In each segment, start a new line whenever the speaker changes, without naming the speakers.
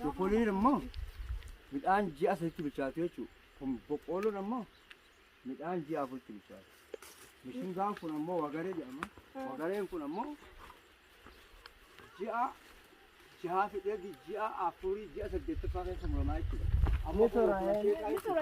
Boqqoolloon immoo midhaan ji'a sadiitti bilchaatu jechuudha. Kun boqqoolloon immoo midhaan ji'a afuritti bilchaatu. Mishingaan kun ammoo wagaree jedhama. Wagareen kun ammoo ji'a jahaa fidee ji'a afurii ji'a saddeettaffaa keessa muramaa jechuudha. Amma kun
kun amma asheetaa jechuudha.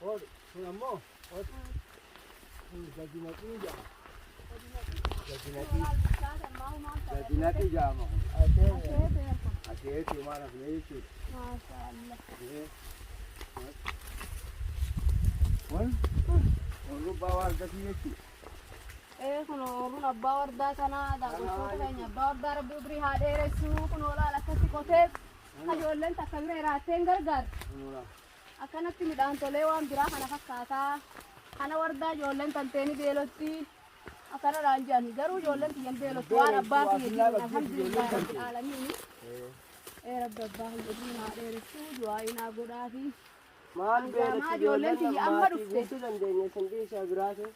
Hoodhu
kun ammoo hoodhu kun gadi naqii jedhama. Gadi naqii gadi naqii jedhama kun. Asheetii waan hafnee jechuudha. Ee, Kun kun rubbaa waan akkasii jechuudha. Ee
kun ooluun abbaa wardaa kanaa daawwachoota keenya abbaa wardaa rabbi umrii haa dheeressuu kun oolaal akkatti qotee ijoolleen takka bira iraattee hin gargaartu. Kun hoolaa. Akkanatti midhaan tolee waan biraa kana fakkaata. Kana wardaa ijoolleen tantee ni beelotti. Akkana naan jedhani. Garuu ijoolleen tiyya hin beelottu. Waan abbaa kiyya jiruun alhamdulillah rabbil aalamiin. Ee rabbi abbaa kiyya jiruun haa dheeressuu du'aa inaa godhaafi. Maal Maa beelatti
ijoolleen ijoolleen tiyya amma maatii
dhufte. guutuu dandeenya isin
dhiisaa biraatu.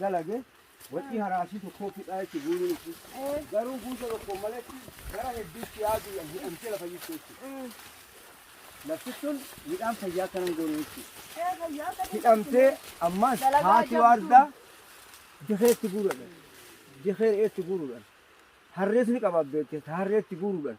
dalage wacii haraasii tokkoo fidhaa jechuun guuruun itti garuu guusa tokkoon maletti gara hedduutti yaaduu yan jedhamtee lafa jirtu jechuudha. Lafti sun midhaan fayyaa akka nan goone jechuudha. Hidhamtee ammas haati waardaa dikeetti guuruudhaan dikee re'eetti guuruudhaan harrees ni qabaabbeetti harreetti guuruudhaan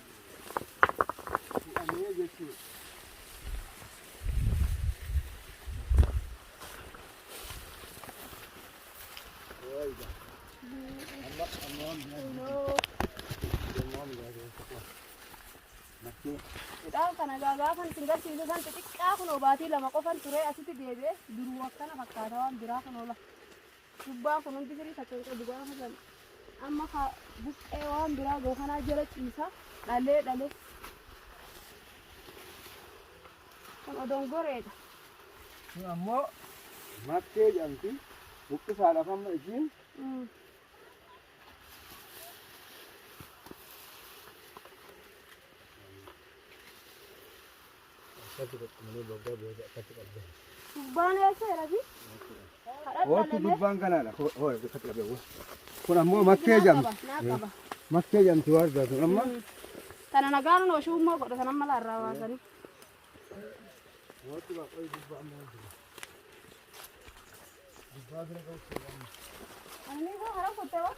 hidhamee jechuudha.
Midhaan kana egaa gaafan isin garsiisu san xixiqqaa kun obaatii lama qofan ture asitti deebi'e duruu akkana fakkaata waan biraa kun oola. Gubbaa kun hundi firii takka hin qabu gaafa san. Amma ka buqqee waan biraa ga'u kanaa jala ciisa dhalee dhalee. Kun odongoreedha. Kun
ammoo makkee jedhamti. Buqqisaadhaaf amma ishiin Mm.
Akkatti qaqqabanii boggaa booda akkatti qabdan. Gubbaan eessa rabi?
Oottu gubbaan kanaadha. Hoo akkatti qabdan. Kun ammoo makkee jedhamti. Naa qaba. Makkee jedhamti waan taatuun amma. Kana nagaan
noo shummoo godha sana mala irraa waasanii. Oottu
baqqoo gubbaan maal jedhama? Gubbaa bira qabu. Ani
koo hara kutte waan.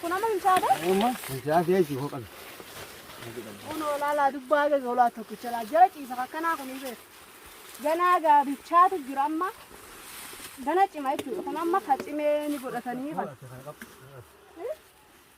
Kun amma hin caade? Amma mucaa fi
ishii hoo qabe.
Kun olaalaa dubbaa gaga olaa tokkicha laa jala ciisa akkanaa kun hin beeku. Ganaa gaabichaatu jira amma. Gana cima jechuudha. Kun amma ka cimee ni godhatanii kan.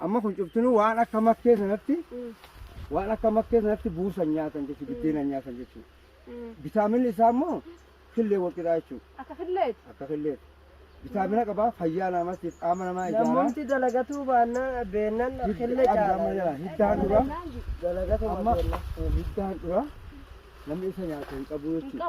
Amma
kun cuftinuu waan akka makkee sanatti waan akka makkee sanatti buusan nyaatan jechuudha biddeenan nyaatan jechuudha. Vitaaminni isaa immoo killee walqixaa jechuudha. Akka killeeti. Akka
killeeti.
Vitaamina qabaa fayyaa namaatiif qaama namaa ijaaraa. Namumti dalagatuu
baannaa beennan kille caalaa. Hiddaan dura
Dalagatuma amma
beennan.
hiddaan
dura
namni isa nyaatu hin qabu jechuudha.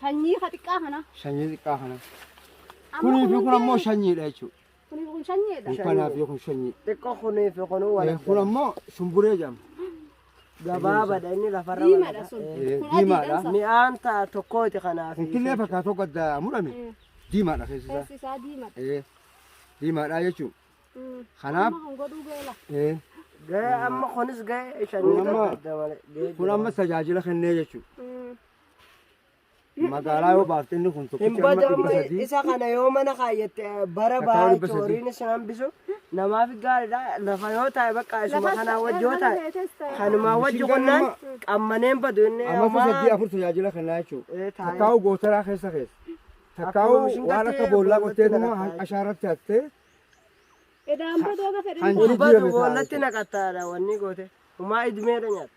Shanyii ka xiqqaa
kana. Shanyii xiqqaa kana.
Kunii fi kun ammoo shanyiidha jechuudha. Kunii fi kun shanyiidha.
Kun kanaa fi kun shanyii.
Xiqqoo kunii fi kun
wal. Kun ammoo shumburee
jedhama. Gabaabadha
inni lafarra wal. Diimaadha sun.
Diimaadha. Mi'aan
ta'a
tokkooti
kanaaf. Kun killee fakkaatu tokko
adda murame. Diimaadha keessi isaa. Keessi isaa diimaadha.
Diimaadha
jechuudha. Kanaaf. Amma kun godhuu
beela. Ga'ee
amma kunis ga'ee shanyii adda
malee. Kun
amma tajaajila
kennee jechuudha. Magaalaa yoo baafte inni kun tokkichi Hin amma badu dhibba amma sadii. isa kana
yoo
mana
kaayyatte eh, bara Takkaa baay'ee dhibba sadii. cooriin
isin
hambisu namaaf gaariidha lafa yoo taa'e bakka isuma Lafas kanaa wajji yoo taa'e teetes taa'e. kanumaa wajji Mishingaan qonnaan amma- qammaneen badu inni Amma homaa- sadii afur tajaajila
kennaa jechuudha. Eh, taa'e. Takkaa'u gootaraa keessa keessa. Takkaa'u Akkuma mishingaa waan akka ta'e boollaa boollatti qottee tuma naqataa. ashaarratti hattee
Edaan badoo gafa Kan dheeraa. jiru- Gurbatu jijjiirame taa'e
boolatti
jechuudha.
naqataadha wanni goote homaa idmeedha nyaatta.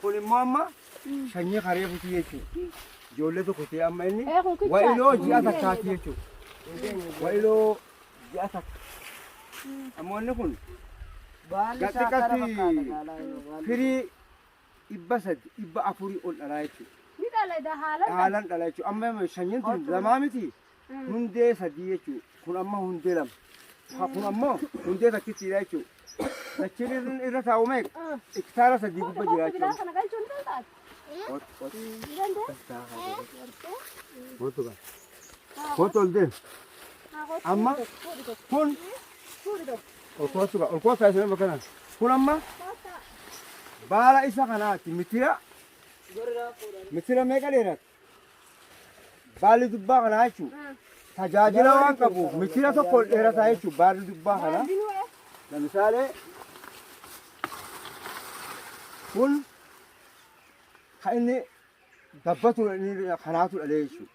Kun immoo
amma sanyii karee butii jechuudha. Ijoollee tokko ta'e amma inni wa'iloo ji'a
takkaati
jechuudha. Wa'iloo ji'a takka. Ammoo inni kun
gaxxiqatti firii
dhibba sadi dhibba afurii ol dhalaa jechuudha.
Dhaalan dhala jechuudha.
Amma sanyiin tun lamaa miti. hundee sadii jechuun kun amma hundee lama. Ha kun ammoo hundee takkittiidha jechuun. Dachiin irra-
irra
taa'u meeqa? Hektaara
sadii
gubba jira
jechuudha.
Kana galchuun ni
taate.
Ot- ot- Ni danda'e? Kootu kan. Kootu ol deemu. Amma kun ol kootu kan. Ol kootu kan isin bakka kana. Kun amma baala isa kanaati mitira. Mitira meeqa dheerata? Baalli dubbaa kanaa jechuun tajaajila waan qabuuf michira tokko ol dheerataa jechuun baalli dubbaa kanaa. Lamisaalee kun kan inni gabbatu kanaatu dhalee jechuudha.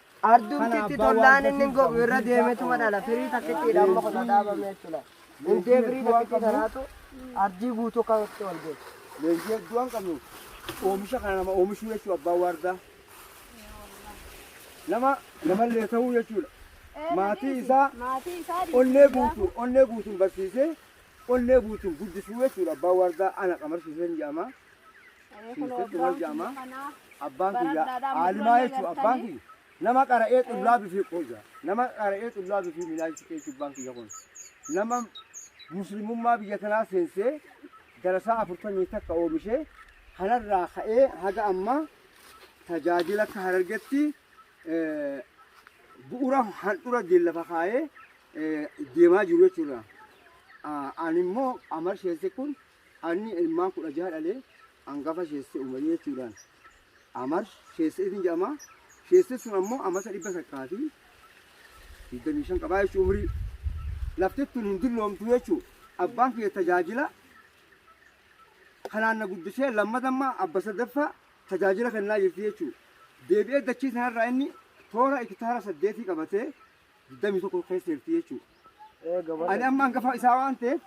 Ardumtitti tollaan inni gogu irra deemetuma dhala. Firii takkittiidha amma kun dhaabame jechuudha. Hundee firii takkittii sanaatu ardii guutuu kan itti ol geessu. Leenjii hedduu waan
qabnuuf oomisha kana nama oomishuu jechuudha abbaan waardaa. Nama namallee ta'uu jechuudha. Maatii isaa onnee guutuun onnee guutuun barsiisee onnee guutuun guddisuu jechuudha abbaan waardaa ana qamarsiiseen jedhama. Siifidhu wal jaama. Abbaan kiyya aalimaa jechuun abbaan kiyya nama qara'ee xullaa bifii qooja. Nama qara'ee xullaa bifii minaajitti jechuun abbaan kiyya kun. Nama muslimummaa biyya kanaa seensee darasaa afurtamii takka oomishee kanarraa ka'ee haga ammaa tajaajila akka harargetti eh, bu'uura handhura diillafa kaa'ee eh, deemaa jiru jechuudha. Ah, Ani immoo amar sheesse kun Anni ilmaan kudha jaha dhalee angafa sheesse umarii jechuudhaan amar sheesse isin jedhama sheesse sun ammoo amasa dhibba takkaa fi digdamii shan qabaa jechuu umrii laftettun hin dulloomtu jechuu abbaan kiyya tajaajila kanaan na guddisee lammadammaa abba sadaffaa tajaajila kennaa jirti jechuu deebi'ee dachii sanarraa inni toora ikitaara saddeetii qabatee digdamii tokko keessa jirti jechuudha. Ani amma hangafa isaa waan ta'eef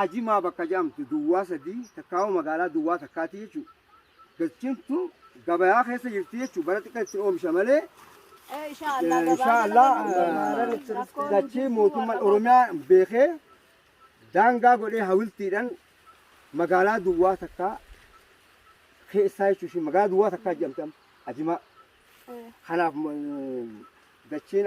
ajimaa bakka jedhamtu duwwaa sadii takkaawuu magaalaa duwwaa takkaati jechuudha. Galchintu gabayaa keessa jirti jechuudha. Bara xiqqaa itti oomisha malee inshaallah dachii mootummaan Oromiyaa beekee daangaa godhee hawiltiidhaan magaalaa duwwaa takkaa keessaa jechuudha. Magaalaa duwwaa takkaa jedhamti amma ajimaa. Kanaaf dachiin